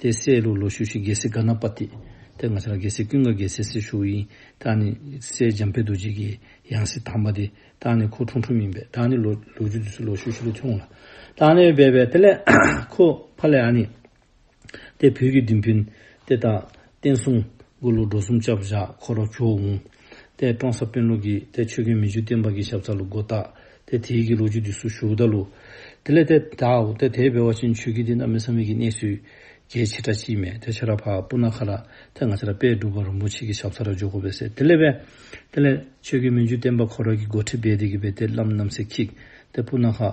དེ་སྲས་ལུག་ལོ་ཤུག་ཤི་རྒྱལ་སྲས་ཀརྣ་པ་ཏི། དེ་སྔ་ཤར་རྒྱལ་སྲས་ཀུན་དགའ་རྒྱལ་སྲས་སྲས་ཤུག་ཡིན། བདག་ནི་སྲས་འཇམ་དཔལ་རྡོ་རྗེ་ཀྱི་ཡང་སྲས་དམ་པ་དེ། བདག་ནི་ཁོ་ཁྲུང་ཁྲུང་མིན་པས་བདག་ནི་ལོ་ལུག་རྒྱུད་དུ་སྲས་ལོ་ཤུག་ཤི་ལུག་ཆུང་ལ། བདག་ནི་སྦས་པས་དེ་ལས་ཁོ་ཕ་ལས་ཨ་ནི། དེ་བུ་རྒྱུད་འདི་འཕེན། དེ་དང་བསྟན་སྲུང་དགུ་ལོ་འགྲོ་གསུམ་བཅའ་བཞག་འཁོར་བ་ཁྱོ་འུང། ཏའི་ཀྲོང་ས་དཔོན་ལུགས་ཀྱིས་ཏའི་ཆོས་ཀུན་མི་བཅུ་བསྟན་པ་གྱི་ཞབས་ཚགས་ལུགས་སྒོ་བཏགས་ཏའི་དེའི་གི་ལོ་རྒྱུས་འདི་སུ་བཞུགས་བདག་ལུགས། དེ་ལས་ཏའི་དྭོགས་ཏའི་དེའི་བེ་བ་ཅན་ཆོས་ཀུན་འདི་རྣམས་མི་ས་མི་གི་གནས་སུ་རྒྱལ་ཆེ་ཏྲ་ཅིས་མེད་ཏའི་ཆ་ར་བ་པུ་ན་ཁ་ར་ཏའི་ང་ཆ་ར་པའི་སྒྲུབ་པ་རིན་པོ་ཆེ་གི་ཞབས་ཚགས་ར་འཇོག་གོ་བས་སེ་དེ་ལས་བས། དེ་ལས། ཆོས་ཀུན་མི་བཅུ་བསྟན་པ་འཁོར་ར་གི་སྒོ་ཁྲི་བས་དེ་གི་བས་ཏའི་བླ་མ་རྣམས་སེ་ཁིག་ཏའི་པུ་ན་ཁ།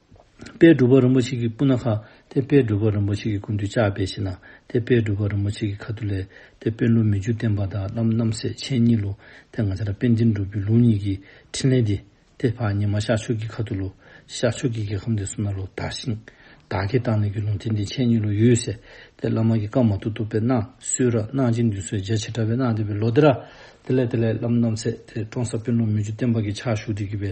དཔལ་སྒྲུབ་པ་རིན་པོ་ཆེ་ཀྱི་སྤུ་ན་ཁ་དེ་དཔལ་སྒྲུབ་པ་རིན་པོ་ཆེ་ཀྱི་ཀུན་ཏུ་བཅག་པའི་གཞི་ན་དེ་དཔལ་སྒྲུབ་པ་རིན་པོ་ཆེ་ཀྱི་ཁ་ཏུ་ལས་དེ་དཔོན་ལུགས་མི་འཇུ་བསྟན་པ་དང་རྣམ་རྣམ་སྲས་ཆེན་གཉིས་ལུགས་དེ་ང་ཅར་དཔལ་འདི་འགྲུབ་པའི་ལུགས་གཉིས་ཀྱི་ཕྲིན་ལས་འདི་དེ་ཕག་ཉི་མ་ཤར་ཕྱོགས་ཀྱི་ཁ་ཏུ་ལུགས་ཤར་ཕྱོགས་ཀྱི་རྒྱལ་ཁམས་དེ་སུ་ན་ལུགས་དར་ཞིང་བདག་གིས་བཏང་ནས་ཀྱི་ལུགས་དེ་འདི་ཆེན་གཉིས་ལུགས་ཡོད་ཟེར་དེ་བླ་མ་ཀྱི་བཀའ་མ་ཐུག་ཐུག་པའི་སྣང་གསོལ་ར་སྣང་ཅན་འདུས་སོ་རྗེ་བྱེ་བྲག་པའི་སྣང་བསྟན་པའི་ལོ་དེ་ར་དེ་ལས་དེ་ལས་རྣམ་རྣམ་སྲས་དེ་སྟོང་ཟབ་དཔོན་ལུགས་མི་འཇུ་བསྟན་པ་ཀྱི་ཕྱག་བཞུགས་དེ་བགྱིས་པའི་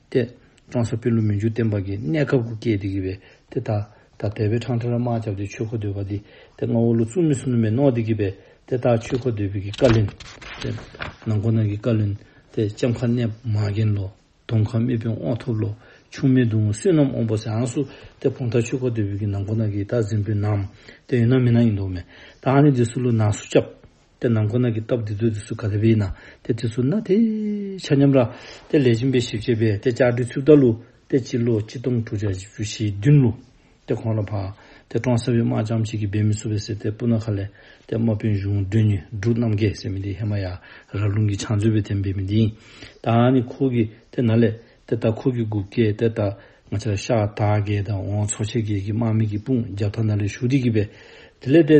ཏེ། ཀྲང་སོ་པི་ལུ་མི་འཇུ་བསྟན་པ་གྱིས་གནས་སྐབས་དགུ་སྐྱེས་ཏེ་གི་བའི་ཏེ། ད་ད་བལ་པའི་ཁྲང་ཁྲ་ར་དམག་བཅབས་ཏེ་ཆོས་འཁོར་འདོད་པ་ཏེ། ཏེ་རྔ་བོ་ལོ་བཙུན་མི་སུ་ནུ་མས་ནོག་ཏེ་གི་བའི་ཏེ། ད་ཆོས་འཁོར་འདོད་པའི་གི་ཀ་ལིན། ཏེ། ནང་འཁོར་ནང་གི་ཀ་ལིན། ཏེ་ལྕམ་ཁ་གནས་མ་རྒན་ལོ། དོམ་ཁ་རྨེ་བོན་དབང་ཐོབ་ལོ། ཆུང་མའི་སྡུག་བསྔལ་བསོད་ནམས་དབང་པོ་སེང་སུ། ཏེ་བོང་ཐ་ཆོས་འཁོར་འདོད་པའི་གི་ནང་འཁོར་ནང་གི་ད་གཟིམ་བུ་ནམ། ཏེ་ཡོན་ནམ་མི་ནམ་ཡིན་དོག་མེད། ད་ཨ་ནི་འདི་སུ་ལུ་ནག་སུ་བཅབས། དེ་ནང་ཁོ་ན་གི་སྟོབས་དེ་ཚོས་དེ་སུ་ག་རེ་བས་ན་དེ་དེ་སུ་ན་དེ། ཆ་མཉམ་ར། དེ་ལས་གཞན་པའི་ཞིབ་བྱེད་པས་དེ་ལྕགས་སྦྲུལ་ཆུ་བདག་ལུ། དེ་སྤྱི་ལོ་གཅིག་སྟོང་དྲུག་བརྒྱ་བཞི་བཅུ་ཞེ་བདུན་ལུ། དེ་གོང་ར་བར། དེ་ཀྲོང་སེ་བའི་དམག་ལྕམ་ཞིག་གིས་འབེལ་མི་སུ་བས་སེ་ཏའི་སྤུ་ན་ཁ་ལས། དེ་དམག་དཔོན་གཞུང་སྒྲོལ་ཉི་འབྲུག་རྣམ་རྒྱལ་ཟེར་མི་དེས་ཧེ་མ་ཡ་ར་ཀླུང་གི་ཕྱག་མཛོད་བས་དེ་འབེལ་མི་དེ་ཡིན། ད་ནི་ཁོ་གིས་དེ་ན་ལས། དེ་ལྟར་ཁོ་གིས་སྒུག་སྐད་དེ་ལྟར། ང་ཆ་ཤ་ད་རྒས་དང་འོང་ཚོ་ཆེ་རྒས་ཀྱི་དམག་མི་གིས་དཔུང་རྒྱབ་ཐ་ན་ལས་ཞུགས་དེ་གིས་བས། དེ་ལས་དེ།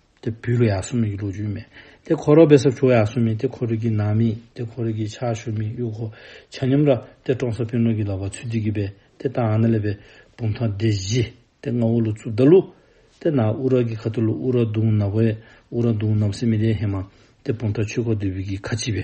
དེ་བུ་ལ་ཡག་སུ་མིག་གི་ལུག་ཅུ་མེད། དེ་ཁོ་རོག་བེ་སབ་ཆུ་བ་ཡག་སུ་མིག་དེ་ཁོ་རིག་གི་ནང་མིག་དེ་ཁོ་རིག་གི་ཆག་ཤུ་མིག་གཡུག་ཁོ་ཆ་ཉམས་ར་དེ་ཀྲོང་སོ་པིན་ལུག་གི་ལ་བ་ཚུ་དིག་གི་བེ་དེ་ཏང་ཨ་ན་ལེ་བེ་བུམ་ཐང་དེ་བཞི་དེ་ང་ཨུ་ལུ་ཚུ་དར་ལུག་དེ་ན་ཨུ་ར་གི་ཁ་ཐུ་ལུག་ཨུ་ར་དུང་ནབ་བེ་ཨུ་ར་དུང་ནབ་སི་མི་ལེ་ཧེ་མ་དེ་བུམ་ཐང་ཆུ་ཁོ་དེ་བུ་གི་ཁ་ཆི་བེ་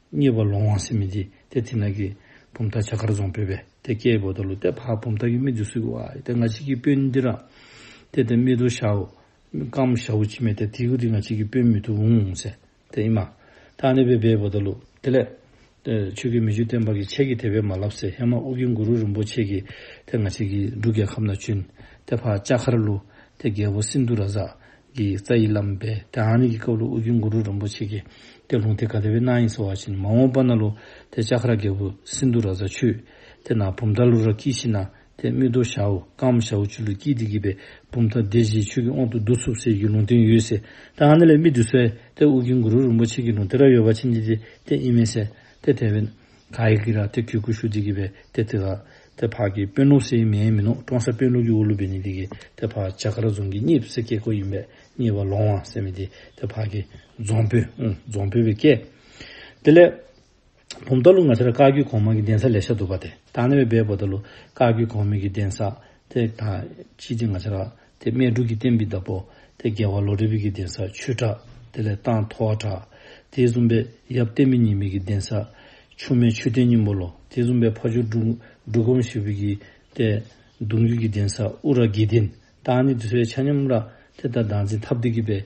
གཉིས་པ་ལོང་དབང་སྲིན་མི་འདི་སྟེ་དེ་ནག་གི་བུ་མཐའ་བྱ་དཀར་རྫོང་བོད་པའི་སྡེ་སྐྱེ་བོ་དང་ལུ་སྟེ་ཕག་བུ་མཐའ་ཡུལ་མི་འདི་སུ་གི་བ་སྟེ་ང་གཅིག་གི་དཔོན་འདི་རང་སྟེ་དེ་མི་དུ་ཤའུ་ཀམ་ཤའུ་ཅི་མེད་སྟེ་དེ་གུ་རི་ང་གཅིག་གི་དཔོན་མི་དུ་འུང་འུང་ཟེར་དེ་ཨི་མ་ཐ་ནི་བོད་པའི་བོ་ད་ལུ་དེ་ལས། ཆོས་ཀྱི་མི་བཅུ་བསྟན་པ་གི་ཆས་ཀྱི་དེ་བས་མ་ལབ་ཟེར་ཧེ་མ་ཨུ་གི་འགུ་རུ་རིན་པོ་ཆེ་གི་དེ་ང་གཅིག་གི་འབྲུ་རྒྱལ་ཁབ་ན་བཅུན་དེ་ཕག་ལྕགས་མཁར་ལུ་དེ་རྒྱལ་བོ་སིན་དུ་ར་ཟ་ཀྱི་རྩ་ཡི་ལམ་པས་དེ་ཨཱ་ནི་ཀྱི་སྐབས་ལོ་དབུ་རྒྱུན་གུ་རུ་རིན་པོ་ཆེ་ཀྱིས་དེ་ལུང་དེ་ག་དེ་བས་སྣང་ཡིན་ཟེར་བ་བཞིན་མ་འོངས་པ་ན་ལོ་དེ་ལྕགས་ཁ་ར་རྒྱལ་པོ་སིནྡྷུ་ར་བཟའ་ཆུ་དེ་ན་བུམ་ཐ་ལུ་ར་ཀི་ཤི་ན་དེ་རྨིད་དོ་ཤ་འུ་ཀའམ་ཤ་འུ་ཆུ་ལུ་ཀི་དེ་གི་པའི་བུམ་ཐ་དེ་བཞིའི་ཆུ་གི་འོག་ཏུ་བདུད་ཚུབ་ཟེར་གྱི་ལུང་བསྟན་ཡོད་ཟེར་དེ་ཨཱ་ནི་ལས་རྨིད་དུ་གསལ་དེ་དབུ་རྒྱུན་གུ་རུ་རིན་པོ་ཆེ་གི་ལུང་དེ་ར་ཡོད་པ་ཕྱིན་ཅི་ཏི་དེ་ཨི་མེད་ཟེར་དེ་དེ་བས། ག་ཡི་གི་ར་ཏི་གུ་གུ་ཤུ་ཏི་གི་བའི་ཏེ་ཏི་ལ། ཏེ་ཕག་གི་དཔོན་ནུ་སེའི་མེའི་མི་ནུ་ཀྲོང་སེ་དཔོན་ལུག་གི་ཨུ་ལུ་བི་ནི་ཏི་གི་ཏེ་ཕག་བྱ་ཀ་ར་རྫོང་གི་གཉིས་སེ་ཀེ་ཀོ་ཡིན་པས་གཉིས་བ་ལོང་བ་སེ་མི་ཏི་ཏེ་ཕག་གི་རྫོང་བུ་རྫོང་བུ་བི་ཀེ། ཏི་ལེ། བུམ་ཏཱ་ལུ་ང་ཚ་ར་ཀ་རྒྱུད་གོང་མ་གི་གདན་ས་ལས་ཤ་དུ་བ་ཏེ་ཏཱ་ནེ་བའི་སྦས་བུ་ཏཱ་ལུ་ཀ་རྒྱུད་གོང་མའི་གི་གདན་ས་ཏེ་ཏཱ་ཅི་ཏི་ང་ཚ་ར་དེ་སྨད་དྲུག་གི་གཏན་པའི་བདག་པོ། དེ་རྒྱལ་བ་ལོ་རེ་བིག་གི་གདན་ས་ཆུ་བྲག། དེ་ལས་སྟག་མཐོ་བ་བྲག། དེ་གསུམ་པས་ཡབ་བརྟན་མི་ཉི་མིག་གི་གདན་ས། ཆུ་སྨད་ཆུ་བརྟན་སྙིང་པོ་ལོ། དེ་གསུམ་པས་ཕ་ཆུ་འབྲུག། འབྲུག་སྒོམ་ཞེས་བིག་གི་གཏད། གདུང་རྒྱུད་ཀྱི་གདན་ས་དབུ་ར་དགེ་ལྡན། སྟག་ནི་དུ་སའི་ཆ་སྙོམས་ར། དེ་ལྟར་བདག་འཛིན་ཐབས་སྡུད་ཀྱི་པས།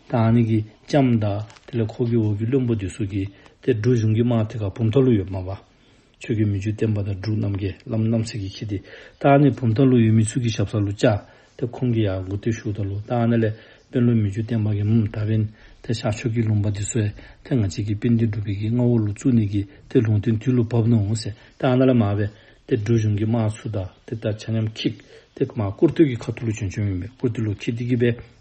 དང་ནི་གི་ལྕམ་བདག། དེ་ལས་འཁོར་གྱི་འོག་གི་བློན་པོ་འདི་སུ་གི། དེ་སྒྲུབ་གཞུང་གི་དམག་དེ་ཁ་བུམ་ཐང་ལུགས་ཡོད་སྨྲ་བ། ཆོས་ཀྱི་མི་ཆོས་བསྟན་པ་དང་འབྲུག་རྣམ་རྒྱལ་ལམ་རྣམ་སྲས་ཀྱི་ཁྱི་དེ། དང་ནི་བུམ་ཐང་ལུགས་ཡོད་མི་ཚུལ་གྱི་ཞབས་ས་ལུགས་ལྕགས། དེ་ཁོང་གི་ཡང་མགོ་ཏི་ཤུགས་ཐང་ལུགས་དང་ནི་ལས། དཔོན་སློབ་མི་ཆོས་བསྟན་པ་གི་མུམ་མདའ་བན། དེ་ཤག་ཆོས་ཀྱི་ལུང་པ་འདི་སུའེ། དེ་ང་གཅིག་གི་དཔེ་འདི་སྒྲུབ་པའི་གི་རྔ་བོ་ལུགས་ཚུལ་ནི་གི། དེ་ལུང་བསྟན་དུས་ལུགས་བབ་ནུ་འོང་ཟེ། དང་ནི་ལ་མ་བན། དེ་སྒྲུབ་གཞུང་གི་དམག་ཚུལ་དང་དེ་ལྟར་ཆ་མཉམ་ཁྱིག། དེ་མ་བཀུར་སྟོད་ཀྱི་ཁ་ཐུ་ལུགས་བྱོན་བྱོན་མིན་པས་བཀུར་སྟི་ལུགས་ཁྱི་དི་གི་བན།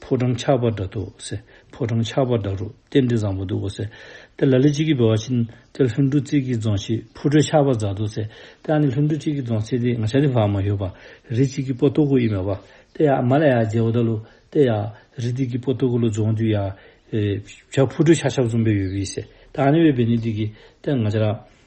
ཕོ་བྲང་ཆགས་པ་འདྲ་འདུག་ཟེར། ཕོ་བྲང་ཆགས་པ་འདྲ་རུ་རྟེན་འབྲེལ་བཟང་པོ་འདུག་གོ་ཟེར། དེ་ལ་ལི་གཅིག་གིས་བོས་བ་ཕྱིན། དེ་ལྷུན་གྲུ་རྩིས་ཀྱིས་རྫོང་ཤིག་ཕུ་དྲོད་ཆགས་པ་རྫ་འདུག་ཟེར། དེ་ཨ་ནི་ལྷུན་གྲུ་གཅིག་གིས་རྫོང་ཚིག་དེ་ང་ཆ་དེ་བག་མ་ཡོད་པ། རི་གཅིག་གིས་པོ་ཏོ་ཀོ་ཡི་མེ་བ། དེ་ཡག་མ་ལ་ཡག་རྗེ་བོ་ད་ལུ། དེ་ཡག། རི་དེ་གིས་པོ་ཏོ་ཀོ་ལོ་རྫོང་དུ་ཡག། བྱ་ཕུ་དྲོད་ཆགས་ཆགས་འཛོམས་པའི་ཡོད་བི་ཟེར། དེ་ཨ་ནི་བའི་བེ་ནི་དེ་གིས། དེ་ང་ཆ་ར།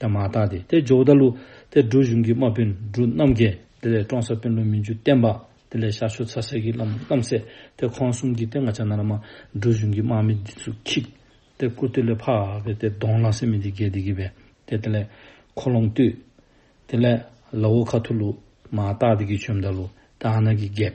དེ་མ་ཐག་དེ་སྟེ་ཇོ་བོ་རྟ་ལུ་སྟེ་འབྲུག་གཞུང་གི་དམག་དཔོན་འབྲུག་རྣམ་རྒྱལ་དེ་ལས་བཀྲོངས་ས་དཔོན་བློན་མི་འཇུ་བསྟན་པ་དེ་ལས་ཤར་ཕྱོགས་ཚ་སེར་གྱི་བླ་མ་རྣམ་སྲས་དེ་ཁོང་གསུམ་གྱིས་ཏེ་ང་ཅག་ན་ར་མ་འབྲུག་གཞུང་གི་དམག་མི་འདི་ཚོ་ཁྱིག་སྟེ་བཀུར་སྟི་ལས་འཕགས་པའི་དེ་གདོང་བླངས་སེ་མི་འདི་རྒྱལ་འདི་གི་བས་དེ་དེ་ལས་ཁོ་ལོང་བཏུད། དེ་ལས་ལ་བོ་ཁ་ཐུ་ལུ་མ་སྟག་འདི་གི་ཆོས་མདའ་ལུ་སྟེ་ཨ་ན་གི་རྒྱལ།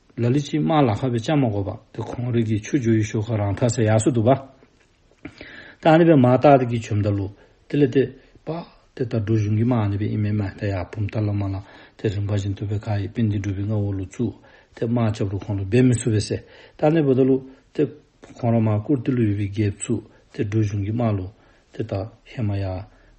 ལ་ལི་ཅི་དམར་ལ་ཁ་བའི་ལྕགས་མ་གོ་བ་དེ་གོང་རིགས་ཀྱི་ཆུ་རྒྱུ་ཡི་ཤོ་ཁ་རང་ཐག་ས་ཡག་སུ་འདུག་བ། ད་ནི་བའི་མ་ཏག་ཏག་གི་བྱུམ་ད་ལུ་དེ་ལས་དེ་པ་དེ་ད་སྒྲུ་གཞུང་གི་མ་ནི་བའི་ཨི་མའི་མ་ད་ཡག་བུམ་ད་ལ་མ་ལ་དེ་རིན་པ་བཞིན་དུ་བའི་ཁ་ཡི་པི་འདི་འདྲུ་བའི་ང་བོ་ལུ་ཙུ་དེ་དམར་ལྕགས་རུ་ཁོང་ལ་སྦས་མི་སུ་བའི་སེ་ད་ནི་བ་ད་ལུ་དེ་གོང་ར་མ་ཀུར་ཏི་ལུ་ཡི་བའི་རྒྱས་བཙུགས་དེ་སྒྲུ་གཞུང་གི་མ་ལུ་དེ་དག་ཧེ་མ་ཡ།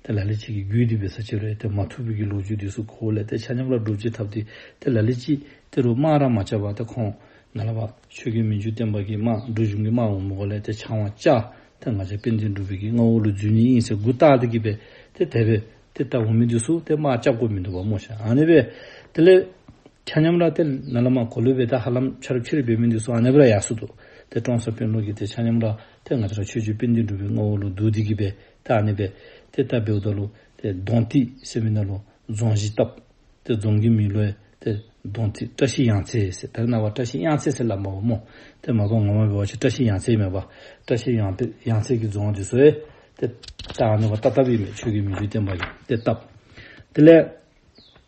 དེ་ལ་ལས་གཅིག་གིས་རྒྱུད་སྡུད་པའི་ས་ཆེ་རེ་དེ་མ་ཐུབ་བུ་གི་ལོ་ཆུ་དུས་སུ་ཁོ་བོ་ལས་དེ་ཆ་མཉམ་ལ་སྒྲུབ་བྱེད་ཐབས་དེ་དེ་ལ་ལས་གཅིག་དེ་རུ་སྨྲ་ར་མ་བྱ་བ་དེ་ཁོང་ན་ལ་བ་ཆོས་སྐད་མི་འཇུ་བསྟན་པ་གི་སྨྲ་སྒྲུབ་གཞུང་གི་སྨྲ་བ་མོ་གོ་ལས་དེ་ཆང་བ་བཅའ་དེ་ང་ཆ་དཔེ་འདི་འགྲུབ་བུ་གི་རྔ་བོ་ལུ་རྫུན་གཉིས་དབྱིངས་སེ་དགུ་རྟག་དེ་གི་བས་དེ་དེ་བས་དེ་ལྟ་བུ་མི་དུས་སུ་དེ་སྨྲ་བཅའ་དགོས་མི་འདུག་བ་སྨོ་བྱ་ཨ་ནི་བས་དེ་ལས། ཆ་མཉམ་ར་ཏེ་ན་ལ་མ་གོ་ལུ་བེ་ད་ཧ་ལམ་ཆ་རུ་ཁྱེར་བེ་མི་འདུག་སོ་ཨ་ནེ་བི་ར་ཡ་སུ་དུ་དེ་ཀྲོང་སོ་པེན་ལུགས་ཀྱི་དེ་ཆ་མཉམ་ར་ཏེ་ང་ཅ་ར་ཆོས་ཆོས་པེན་དེ་འགྲུབ་བེ་ངོ་བོ་ལུགས་འདུག་དེ་གི་བེ་ད་ཨ་ནེ་བེ་དེ་ད་བེའུ་ད་ལུ་དེ་རྡོང་ཏི་སེ་མི་ན་ལུ་རྫོང་བཞི་སྟབས་དེ་རྫོང་གི་མི་ལུའེ་དེ་རྡོང་ཏི་བཀྲ་ཤིས་ཡང་ཚེ་སེ་བེར་ན་བ་བཀྲ་ཤིས་དབྱངས་ཚེ་སེ་ལ་མ་བ་མོ་དེ་མ་གོ་ངོ་མ་བེ་བ་ཆེ་བཀྲ་ཤིས་ཡང་ཚེ་མེད་བ་བཀྲ་ཤིས་ཡང་བེ་ཡང་ཚེ་གི་རྫོང་དེ་སོའེ་དེ་ད་ཨ་ནེ་བ་ད་ད་བི་མེད་ཆོས་གི་མི་ཆོས་བསྟན་པ་ཡིན་དེ་སྟབས་དེ་ལས།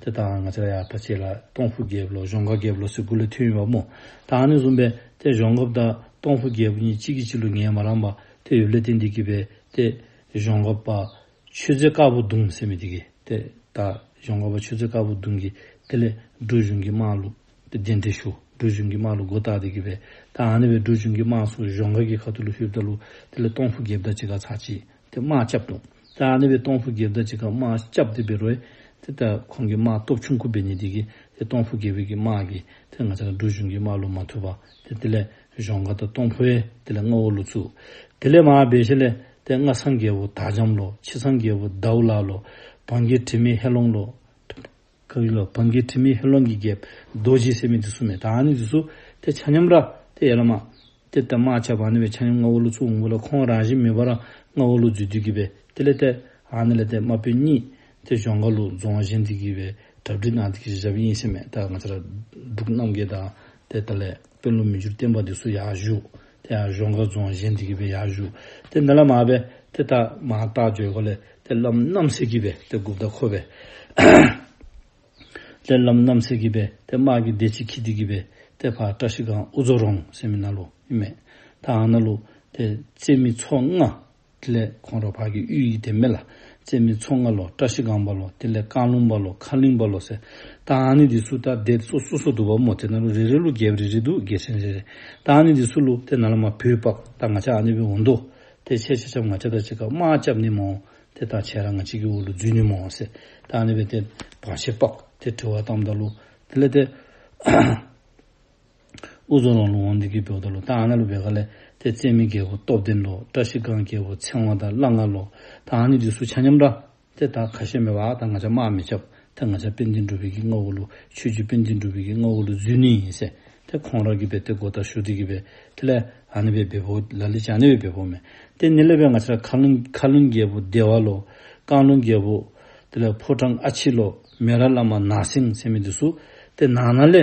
དེ་ལྟ་ང་ཚོས་ཡར་ཕར་ཆས་ལ་སྟོང་ཕུག་བརྒྱད་ལོ་གཞོང་ཁ་བརྒྱད་ལོ་སོགས་དགུ་ལས་མཐུན་ཡོད་པ་མོ་ད་ཨ་ནེ་བཟུང་པས་དེ་གཞོང་ཁབ་དང་སྟོང་ཕུག་བརྒྱད་པོ་གཉིས་གཅིག་གིས་གཅིག་ལུས་ངས་མ་རངས་པ་དེ་ཡོད་ལས་དེ་འདི་གི་བས་ཏེ་གཞོང་ཁབ་པ་ཆོས་རྗེ་དཀར་པོ་གདུང་སེ་མི་དེ་གི་དེ་ད་གཞོང་ཁབ་པ་ཆོས་རྗེ་དཀར་པོ་གདུང་གི་དེ་ལས་འབྲུ་གཞུང་གི་དམག་ལུགས་དེ་འདི་འདྲི་ཞུ་འབྲུ་གཞུང་གི་དམག་ལུགས་མགོ་བཏགས་དེ་གི་བས་ད་ཨ་ནེ་བས་འབྲུ་གཞུང་གི་དམག་སོགས་གཞོང་ཁ་གི་ཁ་ཐུ་ལུ་ཤུལ་བདའ་ལུགས་དེ་ལས་སྟོང་ཕུག་བརྒྱད་བདའ་གཅིག་ག་ཚ་གཅིག་དེ་དམག་སྐྱབས་དང། ད་ནི་བའི་སྟོང་ཕུག་རྒྱལ་བདག་ཅིག་གམ་དམག་སྐྱབས་འདི་བེ་རོའི། དེ་ལྟར་ཁོང་གི་དམག་སྟོབས་ཆུང་ཁུ་བེ་ནི་དེ་གི། དེ་སྟོང་ཕུག་རྒྱལ་བོད་ཀྱི་དམག་གི། དེ་ང་ཅག་གི་འབྲུ་གཞུང་གི་དམག་ལུགས་མ་ཐུབ་པ། དེ་དེ་ལས་གཞོང་ཁ་དང་སྟོང་ཕོའི་དེ་ལས་རྔ་བོ་ལུགས་ཚུགས། དེ་ལས་མ་བ་བེ་ཤེ་ལས་དེ་རྔ་ཚང་རྒྱལ་བོ་དྭགས་འཇམ་ལོ། ཕྱི་ཚང་རྒྱལ་བོ་དྭགས་བུ་ལགས་ལོ། བང་གི་དྲི་མེད་ཧེ་ལོང་ལོ། ཁ་ཡི་ལོ་བམ་གྱི་ཁྲི་མི་ཧེ་ལོང་གི་རྒྱལ། རྡོ་རྗེའི་སྲས་མི་དེ་སུ་མེད་དཱ་ནི་དེ་སུ། དེ་ཆ་མཉམ་ར་དེ་ཡེ་ལ་མ། དེ་ལྟར་མ་ཆགས་པར་ནི་བའི་ཆ་མཉམ་ལྔ་བོ་ལུགས་ཚུགས་འོང་གི་ལ་ཁོང་རང་བཞིན་མི་འབར་རང་ལྔ་བོ་ལུགས་རྫུས་དུས་ཀྱི་བས་དེ་ལས་ཏེ། ཨ་ནི་ལ་ཏེ་མ་པོའི་གཉིས། དེ་གཞོང་ཁ་ལུགས་རྫོང་གཞན་དུས་ཀྱི་བས་གྲབ་སྒྲིག་ནང་དུ་གྱི་ཞབས་དབྱིངས་སེམས་མེད་ད་ང་ཚ་ར། འབྲུག་རྣམ་རྒྱལ་དང་དེ་ལྟར་ལས། དཔོན་སློབ་མི་འགྱུར་བསྟན་པ་འདི་སུ་ཡག་བཞུགས། དེ་ཡང་གཞོང་ཁ་རྫོང་གཞན་འདི་གི་བས་ཡག་བཞུགས། དེ་འདི་ལ་མ་བས་དེ་ལྟ། མ་བརྟགས་བརྗོད་གོ་ལས། དེ་ལམ་རྣམ་གསེར་གྱི་བས་དེ་དགུ་བདག་ཁོ་བས། དེ་ལམ་རྣམ་གསེར་གྱི་བས་དེ་དམག་གི་སྡེ་གཅིག་ཁྱི་དེ་གི་བས་དེ་བར་བཀྲ་ཤིས་གང་དབུ་རྫོགས་རོང་སེ་མི་ན་ལུ་མི་མེད། ད་ཨ་ན་ལུ། དེ་རྩེ་མི་ཚོགས་ལྔ། དེ་ལས་གོང་རོ་བར་གྱི་དབུས་ཡི་དེ་མེ་ལ། རྩེ་མེ་མཚོ་ལྔ་ལོ་བཀྲ་ཤིས་གང་བ་ལོ་དེ་ལས་རྐང་རླུང་བ་ལོ་མཁའ་རླིང་བ་ལོ་ཟད། ད་ཨ་ནི་འདི་སུ་ལྟར་བཟླས་སོ་སོ་སོ་དུ་བ་མོ་དེ་ན་རོ་རེ་རེ་ཀླུ་རྒྱལ་བ་རེ་རེ་དུ་རྒྱལ་ཆེན་རེ་རེ། ད་ཨ་ནི་འདི་སུ་ཀླུ་དེ་ན་ལ་མ་བུས་པགས་ད་ང་ཆ་ཨ་ནི་བའི་འོ་མདོ། དེ་ཆེ་ཆེ་ཆབ་ང་ཆ་ད་ཆེ་ཁ་མ་ལྕབ་ནི་མོ། དེ་ད་ཆེ་ར་ང་ཆི་ཀི་འོ་ལུ་རྫུས་ནི་མོ་ཟད། ད་ཨ་ནི་བའི་དེ་བ་ཆེ་པགས་དེ་གྲི་བ་དམ་ད་ཀླུ་དེ་ལས་དེ། དབུ་རྫོང་རོང་ལུང་དབང་འདི་གིས་བོད་དོ་ལོ་ཐང་ཨ་ན་ལུ་བེ་ག་ལེ་ཏེ་བཙན་མི་རྒྱལ་བོ་སྟོབས་ལྡན་ལོ་བཀྲ་ཤིས་སྒང་རྒྱལ་བོ་ཚེ་དབང་དང་བླ་མཁར་ལོ་ཐང་ཨ་ནི་རྗེ་སུ་ཆ་མཉམ་འདྲ་དེ་དག་ཁ་ཞེ་མེད་པ་དང་ང་ཆ་དམག་མི་ཆབ་དེ་ང་ཆ་པན་ཏིན་འགྲུ་བི་གི་རྔ་བོ་ལུ་ཆུས་ཀྱི་པན་ཏིན་འགྲུ་བི་གི་རྔ་བོ་ལུ་རྫུན་ནི་ཡིན་སེ་དེ་ཁོང་ར་གི་བེ་ཏེ་གོ་ད་ཤུ་ཏི་གི་བེ་ཏེ་ལེ་ཨ་ནི་བེ་བེ་བོ་ལ་ལི་ཅང་ནི་བེ་བེ་བོ་མེ་ཏེ་ནི་ལེ་བེ་ང་ཆ་ར་ཁ་ལུན་ཁ་ལུན་རྒྱལ་བོ་སྡེ་བ་ལོ་ཀང་ལུན་རྒྱལ་བོ་ཏེ་ལེ་ཕོ་བྲང་ཨ་ཆི་ལོ་མེ་ར་བླ་མ་ནག་སེང་སེ་མི་དི་སུ་ཏེ་ནང་ན་ལེ།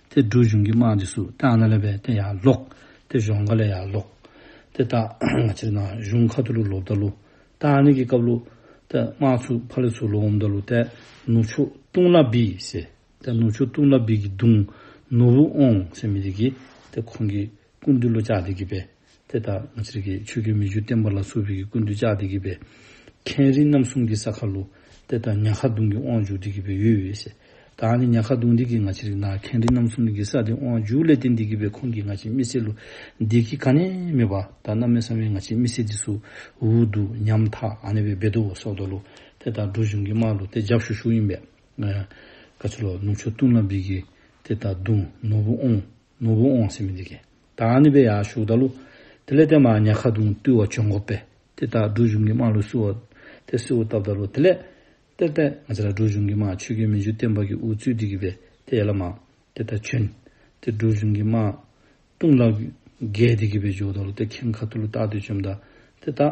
དེ་སྒྲུབ་གཞུང་གི་དམངས་ཀྱི་སུ་དེ་ཨ་ན་ལེ་བས་དེ་ཡར་ལོག། དེ་གཞོང་ཁ་ལས་ཡར་ལོག། དེ་ད་ང་ཕྱིར་ན་གཞུང་ཁ་ཏུ་ལུ་ལོ་བརྡ་ལུ། ད་ཨ་ནི་གི་སྐབས་ལུ། དེ་དམག་ཚུགས་ཕ་ལི་ཚུགས་ལུ་འོམ་བརྡ་ལུ་དེ་ནུ་ཆུ་ཏུང་ལ་བི་ཟེ། དེ་ནུ་ཆུ་ཏུང་ལ་བི་གི་དུང་ནུ་བུ་ཨོང་ཟེ་མི་དི་གི་དེ་ཁོང་གི་ཀུན་དུ་ལུ་ཅག་དི་གི་བས། དེ་ལྟར་ངོ་ཚེ་རིགས་ཀྱི་ཆོས་རྒྱུད་མི་བཅུ་བསྟན་པ་ལ་སོགས་རིགས་ཀྱི་ཀུན་ཏུ་ལྕགས་འདེགས་བགྱིས་པའི། མཁན་རིན་རྣམ་གསུམ་གྱི་ས་ཁ་ལོ། དེ་ལྟར་ཉག་ཁ་དུང་གི་དབང་ཕྱུག་འདི་བགྱིས་པའི་ཡུལ་ཡོད། ད་ནི་ཉག་ཁ་དུང་འདི་བགྱིས་ང་ཚེ་རིགས་ན་མཁན་རིན་རྣམ་གསུམ་བགྱིས་ས་འདི་དབང་ཕྱུག་ལས་ཏེ་འདི་བགྱིས་པའི་ཁོང་གིས་ང་ཆེན་མི་སེར་ལོ། འདི་བགྱིས་ག་ནས་མེད་པ། ད་རྣམ་སྨིན་གསང་བའི་ང་ཆེན་མི་སེར་འདི་སུ། འུ་དུ། ཉམ་ཐག་ཨ་ནེ་བའི་སྦེ་དོ་བོ་སོགས་དོ་ལོ། དེ་ལྟར་སྒྲོ་གཞུང་གི་མར་ལོ་དེ་ལྗགས་ཞུ་ཞུགས་ཡིན་པས། བཀའ་ཆོས་ལོ་ནུབ་ཆོས་སྟོན་ལ་འབིགས། དེ་ལྟར་དུང་ནོར་བུ་ཨོང། ནོར་བུ་འོང་སེམས་འདི་ཀས། ད་ཨ་ནི་པའི་ཡར་ཞུགས་ད་ལོ། དེ་ལས་དེ་མ་ཉལ་ཁ་དུང་བཏུལ་བ་བྱོན་གོ་པས། དེ་ལྟར་སྒྲུབ་གཞུང་གི་དམག་ལུས་བསུ་བ། དེ་བསུ་བ་བཏབ་ད་ལོ་དེ་ལས། དཔེར་ལྟས་ང་ཅི་ལ་སྒྲུབ་གཞུང་གི་དམག་ཆོས་རྒྱུད་མི་འཇུ་བསྟན་པ་གི་འུ་ཚུགས་འདི་གི་པས་དེ་ཡལ་ལ་མ། དེ་ལྟར་བྱོན། དེ་སྒྲུབ་གཞུང་གི་དམག། ལྟུང་བླ། རྒས་འདི་གི་པས་འཇོག་ད་ལོ་དེ་ཁྱིམ་ཁ་ཐུ་ལུ་རྟག་དུས་བཅོམ་ད། དེ་ལྟར།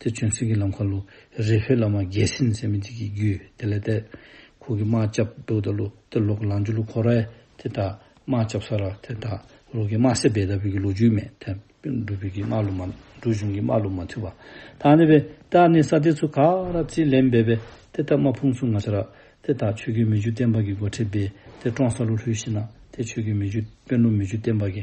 དེ་བྱོན་སྲིད་ཀྱི་ལམ་ཁ་ལུ་རེ་ཕེ་བླ་མ་རྒྱལ་སྲིད་འཛད་མེད་འདི་གི་རྒྱུད་དེ་ལས་འདས། ཁུག་གི་དམག་སྐྱབས་འདུག་ད་ལུ་དེ་ལོག་ལང་ཇུ་ལུ་ཁོ་ར་ཨེ་དེ་དག་དམག་སྐྱབས་ས་ར་དེ་དག་ལོག་གི་དམག་སེ་བེ་ད་བོད་ཀྱི་ལོ་རྒྱུས་མེད་དེ་འབྲུ་བོད་ཀྱི་དམག་ལུ་མ་འབྲུ་གཞུང་གི་དམག་ལུ་མ་ཐུ་བ་དག་ནི་བེ་ད་ནི་ས་དེ་ཚུ་ག་ར་རྩིས་ལེན་བེ་བེ་དེ་དག་དམག་ཕུང་སུ་ང་ཆ་ར་དེ་དག་ཆོས་ཀྱི་མི་རྒྱུད་བསྟན་པ་གི་སྒོ་ཁྲི་བེ་དེ་ཀྲོང་ས་ལུ་ལྷུས་ཤི་ན་དེ་ཆོས་ཀྱི་མི་རྒྱུད་དཔོན་ལུ་མི་རྒྱུད་བསྟན་པ་གི་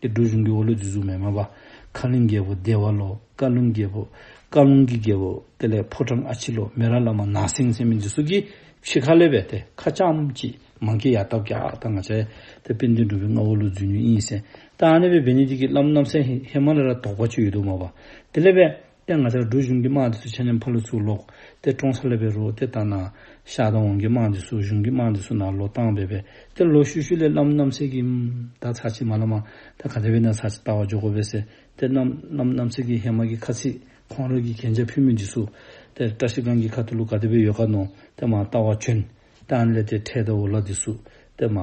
ཏེ་སྒྲོལ་གཞུང་གི་འོ་ལོས་རྫི་གཟུགས་མེད་མ་བཀའ་ལིང་རྒྱལ་པོ་བདེ་བ་ལོ་བཀའ་ལུང་རྒྱལ་པོ་བཀའ་ལུང་གི་རྒྱལ་པོ་དེ་ལས་ཕོ་བྲང་ཨ་ཕྱི་ལོ་མེ་ར་བླ་མ་ནགས་སེང་སེང་མི་རྫི་སོགས་ཀྱིས་ཕྱི་ཁ་ལས་བས་ཏེ་ཁ་བྱམས་ཀྱིས་མང་སྐྱེས་ཡར་བཏབ་ཀྱག་ད་ང་ཆའི་དེ་དཔེ་འདི་འགྲུབ་པའི་སྔ་འོ་ལོ་རྫུས་ཉོན་དབྱིངས་གསལ་ཏེ་ཨ་ནེ་བའི་བེ་ནི་ཏི་ཀི་བླ་མ་རྣམ་སྲས་ཧི་མ་ལ་ར་དོག་པ་ཆོས་ཡོད་དུ་མ་བ་དེ་ལས་བས། དེ་ང་ཅག་སྦྲུལ་གཞུང་གི་དམག་འདི་སུ་ཆེ་ཉམས་ཕ་ལུ་ཚུགས་ལོག་དེ་བཀྲོངས་ས་ལབ་པའི་རོ་དེ་ལྟ་ན། ཤ་དང་འོང་གི་དམག་འདི་སུ་གཞུང་གི་དམག་འདི་སུ་ན་ལོ་བཏང་བས་བས་དེ་ལོ་ཤུ་ཤུ་ལས་ལམ་རྣམ་སེལ་གྱི། ད་ཚ་ཆི་མ་ལ་མ། ད་ག་དེ་བས་ན་ཚ་ཆི་ལྟ་བ་འཇོག་གོ་བས་སེ་དེ་རྣམས་ལམ་རྣམ་སེལ་གྱི་ཧེ་མ་གི་ཁ་ཚིག་ཁོང་རོལ་གྱི་གན་རྒྱ་ཕུལ་མི་འདི་སུ། དེ་བཀྲ་ཤིས་སྒང་གི་ཁ་ཐུ་ལུ་ག་དེ་བས་ཡོད་ག་ནོ་དེ་མ་ལྟ་བ་བྱོན། དེ་ཨན་ལས་དེ་འཕྲད་དེ་འོ་ལ་འདི་སུ། དེ་མ།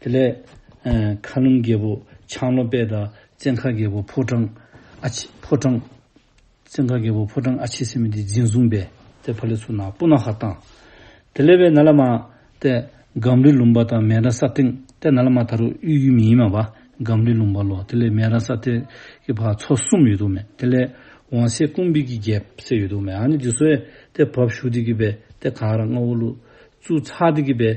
དེ་ལས། མཁའ་རླུང་རྒྱལ་པོ་ཆང་ལོ་པད་དང་བཙན་མཁའ་རྒྱལ་པོ་ཕོ་བྲང། ཨ་ཕྱི། ཕོ་བྲང། བཙན་མཁའ་རྒྱལ་པོ་ཕོ་བྲང་ཨ་ཕྱི་སེམས་དེ་འཛིན་བཟུང་བས་དེ་ཕ་ལེ་ཚུ་ནག་པོ་ནག་ཧ་བཏང། དེ་ལས་བས་ན་ལ་མ། ཏེ། སྒམ་རི་ལུང་པ་དང་མན་ར་ས་སྟེང་ཏེ་ན་ལ་མ་ད་རུ་གཡུ་གཡུ་མི་ཡིན་མ་བ་སྒམ་རི་ལུང་པ་ལོ་དེ་ལས་མན་ར་ས་སྟེ་གི་བར་ཚོ་གསུམ་ཡོད་དོ་མེ་དེ་ལས། བང་སེ་ཀུང་བི་གི་རྒྱལ་སེ་ཡོད་དོ་མེ་ཨ་ནི་དེ་སོ་ཨེ་དེ་བབ་ཞུགས་དེ་གི་བས་དེ་ག་ར་རྔ་བོ་ལུ་ཙུ་ཚ་དེ་གི་བས་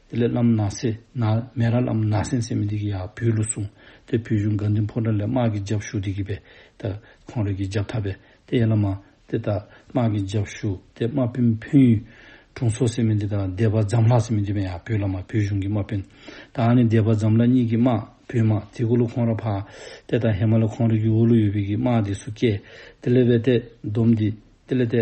དེ་ལས་བླ་མ་ནགས་སེ་ན་མེ་ར་ལམ་ནགས་སེང་སེ་མི་འདི་གི་ཡག་བུའི་ལུགས་གསུང། དེ་བུ་གཞུང་དགའ་འདུན་ཕོ་བྲང་ལས་དམག་གི་རྒྱབ་ཞུགས་འདི་གི་བས་ད་ཁོང་རེ་གི་འཇབ་ཐ་བས་དེ་ཡན་ལ་མ། དེ་ད་དམག་གི་འཇབ་ཞུགས་དེ་དམག་དཔོན་ཕུན་ཡུལ། དྲུང་སོ་སེ་མི་འདི་དང་སྡེ་པ་འཛམ་ལྷ་སེ་མི་འདི་བས་ཡག་བུའི་བླ་མ་བུའི་གཞུང་གི་དམག་དཔོན། དང་ནི་སྡེ་པ་འཛམ་ལྷ་གཉིས་གི་དམག་བུའི་དམག་དེ་གུ་ལུ་ཁོང་ར་ཕ། དེ་ད་ཧེ་མ་ལ་ཁོང་རེ་གི་འུ་ལུ་ཡོད་བས་གི་དམག་འདི་སུ་སྐྱེ། དེ་ལས་བས་དེ་སྡོམ་འདི་དེ་ལས་དེ།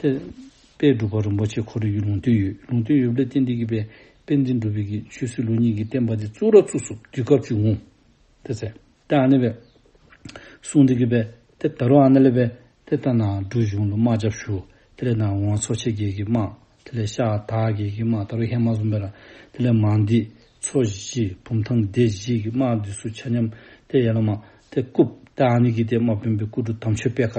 དཔལ་སྒྲུབ་པ་རིན་པོ་ཆེ་ཁོ་རེ་ཡུལ་ལུང་སྟོད་ཡུལ་ལུང་སྟོད་ཡུལ་བློ་བརྟན་བདེ་སྐྱིད་པས་དཔལ་འཛིན་སྒྲུབ་བོད་ཀྱི་ཆོས་སྲིད་ལུགས་གཉིས་ཀྱི་བསྟན་པ་དེ་གཙུག་ར་གཙུག་སོབ་དུས་སྐབས་བཅུ་ངོ། དེ་ཚེ་དཔལ་ཨ་ནེ་བས་གསུང་འདི་གི་པས་དེ་ད་རུང་ཨ་ནེ་ལེ་བས་དེ་ལྟ་ན་འབྲུ་གཞུང་ལུགས་དམག་ཆབ་ཞུ་དེ་ལས་ནང་དབང་འཚོ་བྱེད་རྒྱལ་གྱི་དམག་དེ་ལས་ཤ་ད་རྒྱལ་གྱི་དམག་ད་རུང་ཧེ་མ་བཟུང་བས་ལ་དེ་ལས་མ་འདི་འཚོ་བཞི་བུམ་ཐང་སྡེ་བཞི་གི་དམག་འདི་སུ་ཆ་སྙམ་དེ་ཡན་ལག་དམག་དེ་རྐུབ་དཔལ་ཨ་ནེ་གིས་དེ་དམག་དཔོན་པའི་སྐུ་དྲུག་དམ་ཆོས་དཔལ་ཁ་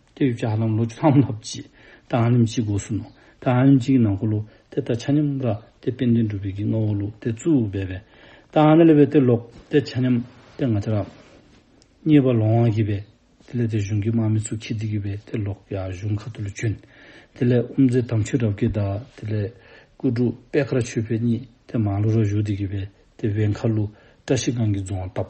དེ་ཡོད་ཀྱི་ཧ་ལམ་ལོ་བཅུ་ལྷག་མ་ལྷག་བརྗེས་ད་ཨང་རིམ་གཅིག་གི་འོག་སུ་ནོ། ད་ཨང་རིམ་གཅིག་གི་ནང་འཁོར་ལོ་དེ་ད་ཆ་མཉམ་ར་དེ་དཔལ་ལྡན་འགྲུབ་བེད་ཀྱི་སྔ་བོ་ལུགས་དེ་གཙོ་བོ་སྦས་པས། ད་ཨང་ན་ལེ་བས་དེ་ལོག་དེ་ཆ་མཉམ་དེ་ང་ཆ་རག། གཉིས་པ་ལོང་བ་གི་བས་དེ་ལས་དེ་གཞུང་གི་དམག་མི་ཚུ་ཁི་ཏི་གི་བས་དེ་ལོག་ཡ་གཞུང་ཁ་ཏུ་ལུ་ཆོན། དེ་ལས་ཨུམ་ཛེ་དམ་ཆོས་རབ་ཀེ་ད་དེ་ལས་ཀུ་ཀྲུ་པད་ཁ་ར་ཆོས་འཕེལ་གཉིས་དེ་མང་ལུ་ར་བཞུགས་དེ་གི་བས་དེ་བས་མཁར་ལུ་བཀྲ་ཤིས་སྒང་གི་རྫོང་བ་བཏབ།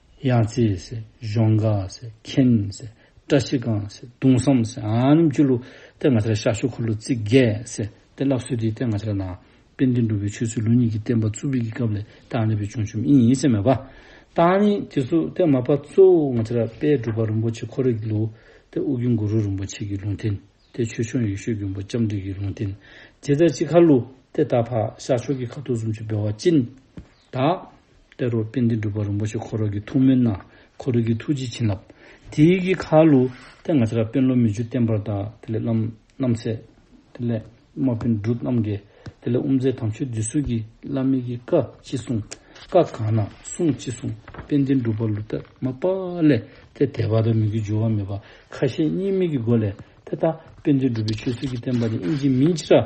གཡང་རྩེ། གཞོང་འགག། མཁན། བཀྲ་ཤིས་སྒང། གདུང་བསམ། སྐྱུ་ལུ། སྟེ་ང་ཚ་ལ་ཤར་ཤུག་འཁོར་ལོ་རྩིས་རྒྱས། སྟེ་བསླབ་གསོའི་དུས་སྟེ་ང་ཚ་ལ་ནང་བསྟན་བསྟན་འགྲོ་བའི་ཆོས་ཚུལ་ལུགས་གཉིས་ཀྱི་བསྟན་པ་གཙུག་ཕུད་ཀྱི་སྐབས་ལས་བཏགས་ནས་པའི་བྱུང་ཆུབ་དབྱིངས་ཡིན་ཟེར་མོད་པ། བཏགས་ནི་དེ་སུ་སྟེ་མ་པ་གཙོ་བོ་ང་ཚ་ལ་དཔལ་སྒྲུབ་པ་རིན་པོ་ཆེ་འཁོར་རིགས་ཀྱི་ལུགས། སྟེ་དབུ་རྒྱུན་གུ་རུ་རིན་པོ་ཆེ་ཀྱི་ལུང་བསྟན། སྟེ་ཆོས་སྐྱོང་ཡེ་ཤེས་མགོན་པོ་ལྕམ་དྲལ་གྱི་ལུང་བསྟན། རྗེ་བཙལ་སྤྱི་ཁ་ལུགས། སྟེ་ད་བར་ཤར་ཕྱོགས་ཀྱི་ཁ་ཐུག་གསུམ་བཅུ་བདེ་བ་སྤྱི། དག། དཔལ་རོག་དཔལ་ལྡན་སྒྲུབ་པ་རིན་པོ་ཆེ་འཁོར་རོག་གི་ཐུགས་སྨོན་ན་འཁོར་རོག་གི་ཐུགས་རྗེ་བྱིན་རླབས། དེ་ཡི་གི་ཁ་ལུ། དེ་ང་ཚེ་རབས་དཔལ་ལོ་མི་བཅུ་བརྟན་པར་དག་དེ་ལས་བླ་རྣམ་ཚེ། དེ་ལས་དམག་དཔོན་སྒྲུབ་རྣམ་འགས། དེ་ལས་དབུ་མཛད་དམ་ཆོས་འདི་གསུང་གི་བླ་མེད་གི་བཀའ་ཅི་གསུང། བཀའ་གང་ན་གསུང་ཅི་གསུང་དཔལ་ལྡན་སྒྲུབ་པ་ལུ་དག་མ་པ་ལས་དེ་དད་པ་དང་མི་དགེ་སྦྱོར་བ་མེད་པ་ཁ་ཤས་གཉིས་མེད་ཀྱི་སྒོ་ལས་དེ་དག་དཔལ་ལྡན་སྒྲུབ་པའི་ཆོས་ཚུལ་གྱི་བསྟན་པ་ནི་དབྱིངས་ཀྱི་མིན་ཕྱིར།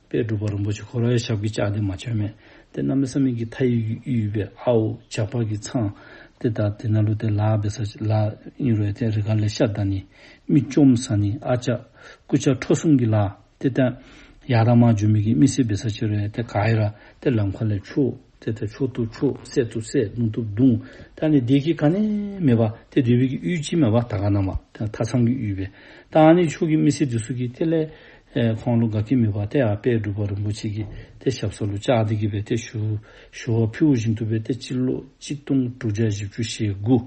པས་སྒྲུབ་པ་རིན་པོ་ཆེ་འཁོར་བའི་ཞབས་ཀྱི་ལྕགས་དེ་མ་བྱོན་མེད་དེ་རྣམ་པའི་ས་མིག་གི་མཐའ་ཡི་གཡུ་ཡི་པའི་ཨའོ་ཇག་པགས་ཀྱི་ཚངས། དེ་དག་དེ་ན་ལུ་དེ་ལ་བའི་ས་ལ་གཡུ་རོའི་ཐད་རི་ག་ལས་ཤ་དང་ནི། མིག་བཅོམ་ས་ནི་ཨ་ལྕགས། སྐུ་ལྕགས་ཁྲོ་གསུམ་གྱི་ལ་དེ་སྟེ། ཡག་དང་མ་བྱོན་མིག་གི་མི་སྲིད་པའི་ས་ཕྱི་རོའི་ཐད་ག་ཡི་ར་དེ་ལ་མཁའ་ལས་ཆུ། དེ་ཐུབ་ཆོག་ཐུབ་ཆོག་བསད་ཐུབ་བསད་རྡུང་ཐུབ་རྡུང། ད་ནི་བདེ་སྐྱིད་ག་ནས་མེད་པ། དེ་བདེ་བོད་ཀྱི་དབུས་སྤྱི་མེད་པ་ད་ག་ནང་བ། དེ་མཐའ་མཚམས་ཀྱི་དབུས་པའི། ད་ཨ་ནི་ཕྱོགས་ཀྱི་མི་སེར་དེ་སུ་གི་དེ་ལས། ཁོང་ལོ་དགའ་གི་མེད་པ་དེ་ཨ་དཔལ་སྒྲུབ་པ་རིན་པོ་ཆེ་གི་དེ་ཞབས་ས་ལོ་ལྕགས་སྡིག་གི་བས་དེ་ཞུ། ཞུ་བ་ཕུལ་བོ་བཞིན་དུ་བས་དེ་སྤྱི་ལོ་གཅིག་སྟོང་དྲུག་བརྒྱ་བཞི་བཅུ་ཞེ་དགུ།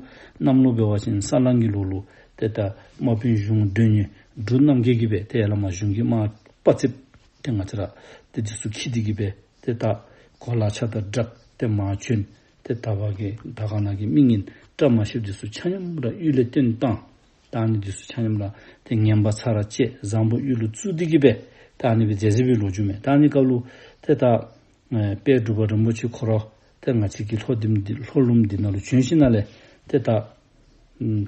གནམ་ལོ་བས་བ་ཅན་ས་གླང་གི་ལོ་ལོ། དེ་ལྟར་དམག་དཔོན་གཞུང་སྒྲོན་ཉི་སྦྲུལ་རྣམ་རྒྱལ་གྱི་བས་དེ་ཨེ་ལ་མ་གཞུང་གི་དམག་དཔའ་རྩིབས། དེ་ང་ཚེ་ར་དེ་དེ་སུ་གི་དེ་གི་བས། དེ་དག་གོ་ལ་ཆགས་ལྟར་བསྒྲགས་ཏེ་མ་བྱོན། དེ་ལྟ་བ་གི་ད་ག་ན་གི་མིག་ཉིད་བཀྲ་མ་ཤིས་འདི་སུ་ཆ་སྙོམས་ར་གཡུལ་ལས་སྟོན་བཏང། དང་ནི་འདི་སུ་ཆ་སྙོམས་ར་དེ་ངན་པ་ཚ་ར་བཅས་བཟང་པོ་གཡུལ་ལོ་བཙུགས་འདི་གི་པས་དང་ནི་བའི་རྫས་ཟིལ་བུའི་ལོ་རྒྱུས་མེད་དང་ནི་བཀའ་ལུགས། དེ་དག་དཔལ་སྒྲུབ་པ་རིན་པོ་ཆེ་འཁོར་རོ། དེ་ང་ཚིག་གི་ལྷོ་ལྡིམ་འདི་ལྷོ་ལུམ་འདི་ན་ལོ་བྱོན་ཤིང་ན་ལས། དེ་དག་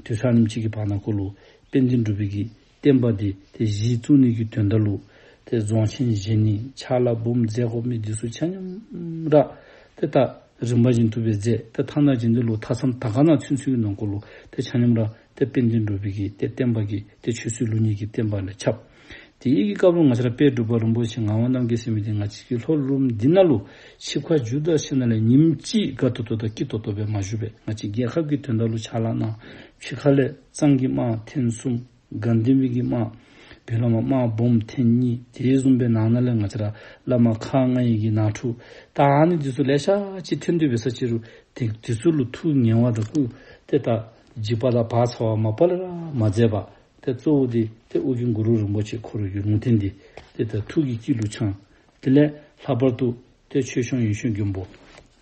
དུས་ཚ་ནིམ་གཅིག་གི་བར་ན་བཀོད་ལུགས་དཔལ་འཛིན་སྒྲུབ་པའི་གི་བསྟན་པ་འདི་དེ་བཞིའི་གཙུག་ནི་རྒྱུད་དོན་བརྡ་ལུགས། དེ་རྫོང་ཆེན་བཞི་ནི་ཆ་ལག་འབུམ་རྫས་ཁོག་མེད་བདུད་གཟུགས་ཆ་སྙོམས་ར། དེ་ལྟ། རིམ་པ་བཞིན་ཐུབ་པའི་རྫས་དེ་ཐ་ན་རྗེ་འདི་ལུགས་ཐ་ཚམ་ད་ག་ན་ཚུན་ཚུན་གྱི་ནང་འཁོར་ལུགས་དེ་ཆ་སྙོམས་ར། དེ་དཔེ་འདི་འགྲུབ་པའི་གིས་དེ་བསྟན་པ་གིས་དེ་ཆོས་སྲིད་ལུགས་གཉིས་ཀྱིས་བསྟན་པ་ལས་ཁྱབ། དེ་ཡིག་གི་སྐབས་ལོ་ང་ཆར་དཔལ་སྒྲུབ་པ་རིན་པོ་ཆེ་ངག་དབང་རྣམ་རྒྱལ་སྲས་མི་དེ་ང་གཅིག་གིས་ལྷོ་ལུགས་འདི་ན་ལུགས་ཆིབས་ཁ་འཇུ་བདག་ཤི་ན་ལས་ཉིམ་གཅིག་དགའ་ཐོ་ཐོ་དང་སྐྱིད་ཐོ་ཐོ་བས་མ་ཞུ་བས་ང་གཅིག་རྒྱལ་ཁབ་ཀྱི་དོན་བརྡ་ལུགས་ཆ་ལག་ནང་ཆིབས་ཁ་ལས། གཙང་གི་དམག་ཐེངས་གསུམ། དགའ་ལྡན་བི་གི་དམག། བི་ལ་མ་དམག་སྦོམ་ཐེངས་གཉིས་དེའི་གསུམ་པའི་ནང་ན་ལས་ང་ཅི་ར་ལ་མ་ཁ་ང་ཡི་གི་ན་ཕྲུག་ད་ཨ་ནི་འདི་ཚོ་ལས་ཤ་ཅི་ཐོན་འདོད་པའི་ས་ཅི་རུ་དེ་དེ་ཚོ་ལུ་ཐུག་ངན་བ་དང་ཀུ་དེ་ད་འཇིག་པ་ལ་བག་ཚ་བ་མ་པ་ལ་ར་མ་མཛད་པ་དེ་གཙོ་བོ་དེ་དེ་ཨུ་གི་འགུ་རུ་རིན་པོ་ཆེ་འཁོར་ཡུལ་ལུང་བསྟན་འདི་དེ་ད་ཐུག་གི་སྐྱིད་ལུ་ཆང་དེ་ལས་ལྷག་པར་དུ། དེ་ཆོས་སྐྱོང་ཡུལ་ཤོད་རྒྱུན་པོ།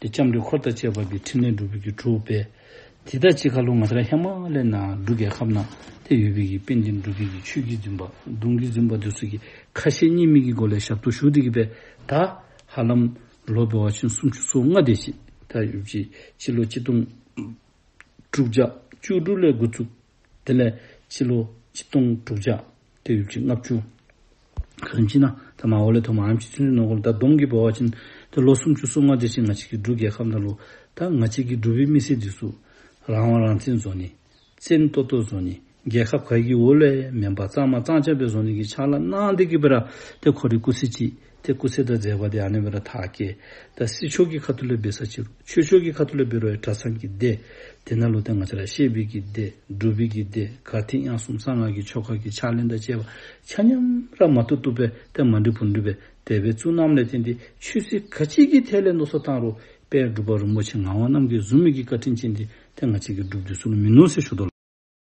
དེ་ལྕམ་དྲལ་འཁོར་དང་བཅས་པ་འདི་ཕྲིན་ལས་འགྲུབ་པའི་རྒྱུ་གྲུབ་པས། དེ་དག་ཅི་ཁ་ལོ་ང་ཚ་ཧི་མ་ལའི་ན་འབྲུ་རྒྱལ་ཁབ་ན་དེ་ཡོད་པས་ཀྱི་དཔེ་འདི་འབྲུ་རྒྱལ་གྱི་ཆོས་ཀྱི་རྫུན་པ། གདུང་གི་རྫུན་པ་འདི་སོགས་ཀྱི་ཁ་ཞེ་གཉིས་མེད་ཀྱི་སྒོ་ལས་ཞབས་ཏོག་ཞུ་བདེ་གི་པའི་ད་ཧ་ལམ། ལོ་པའི་བ་ཆེན་སུམ་ཅུ་སོ་ལྔ་འདས་ཤིང་ད་ཡོད་ཀྱི་སྤྱི་ལོ་གཅིག་སྟོང། དྲུག་བརྒྱ་བཅུ་དྲུག་ལས་འགོ་བཙུགས། དེ་ལས་སྤྱི་ལོ་གཅིག་སྟོང་དྲུག་བརྒྱ། ཏེ་ཡུག་ཅིག་ལྔ་བཅུ། གང་མཆིས་ན། ད་མ་ཧོ་ལས་ཐོག་མ་ཨམ་ཅིག་ཚུན་ཆུ་ནོར་གོམས་ད་གདོང་གིས་སྦོ་བ་བྱིན། ད་ལོ་སུམ་ཅུ་སོ་ལྔ་འདྲེ་ཆེན་ང་གཅིག་གིས་འབྲུག་རྒྱལ་ཁམས་དང་ལུ། ད་ང་གཅིག་གིས་འབྲུག་བུའི་མི་སེར་འདི་གསུག། རང་དབང་རང་བཙན་བཟོ་ནི། བཙན་གཏོ་གཏོ་བཟོ་ནི། རྒྱལ་ཁབ་ག་གི་འོ་ལས་མེན་པ་གཙང་མ་གཙང་ཆ་བེ་བཟོ་ནི་གི་ཆ་ལ་སྣང་འདི་གི་པེ་ར། ཏེ་ཁོ་རི་སྐུ་སི་ཅིས། དེ་སྐུ་ཚེ་དང་མཛད་པ་དེ་ཨནེ་མི་ར་དྷཱ་ཀེ། ད་སྲིད་ཕྱོགས་ཀྱི་ཁ་ཐུ་ལོས་འབེལ་ས་ཅི་རུ། ཆོས་ཕྱོགས་ཀྱི་ཁ་ཐུ་ལོས་འབེལ་བའི་གྲ་ཚང་གི་སྡེ། དེ་ན་ལོ་ཏི་ང་ཅ་ར་ཤེས་འབིག་གི་སྡེ། སྒྲུབ་འབིག་གི་སྡེ། གར་ཐིག་དབྱངས་གསུམ་གསང་སྔགས་ཀྱི་ཆོ་ག་གི་ཕྱག་ལེན་དང་བཅས་པ། ཆ་མཉམ་ར་མ་ཏུ་གཏུབ་པའི་ཏེ་མ་འབྲི་བུར་འབྲི་བའི་དད་པའི་ཚུལ་རྣམས་ལས་བསྟན་ཏེ་ཆོས་སྲིད་ག་ཅིག་གི་ཐད་ལས་མདོ་སོ་ཐང་རུ་པའི་སྒྲུབ་པ་རིན་པོ་ཆེ་ངག་དབང་རྣམས་ཀྱི་གཟུགས་མེད་ཀྱི་བཀའ་དྲིན་ཅན་ཏེ་ཏེ་ང་ཅིག་གི་སྒྲུབ་བསྡུས་སུ་ལ་མི་ནོར་སྲི་ཞུ་དོ།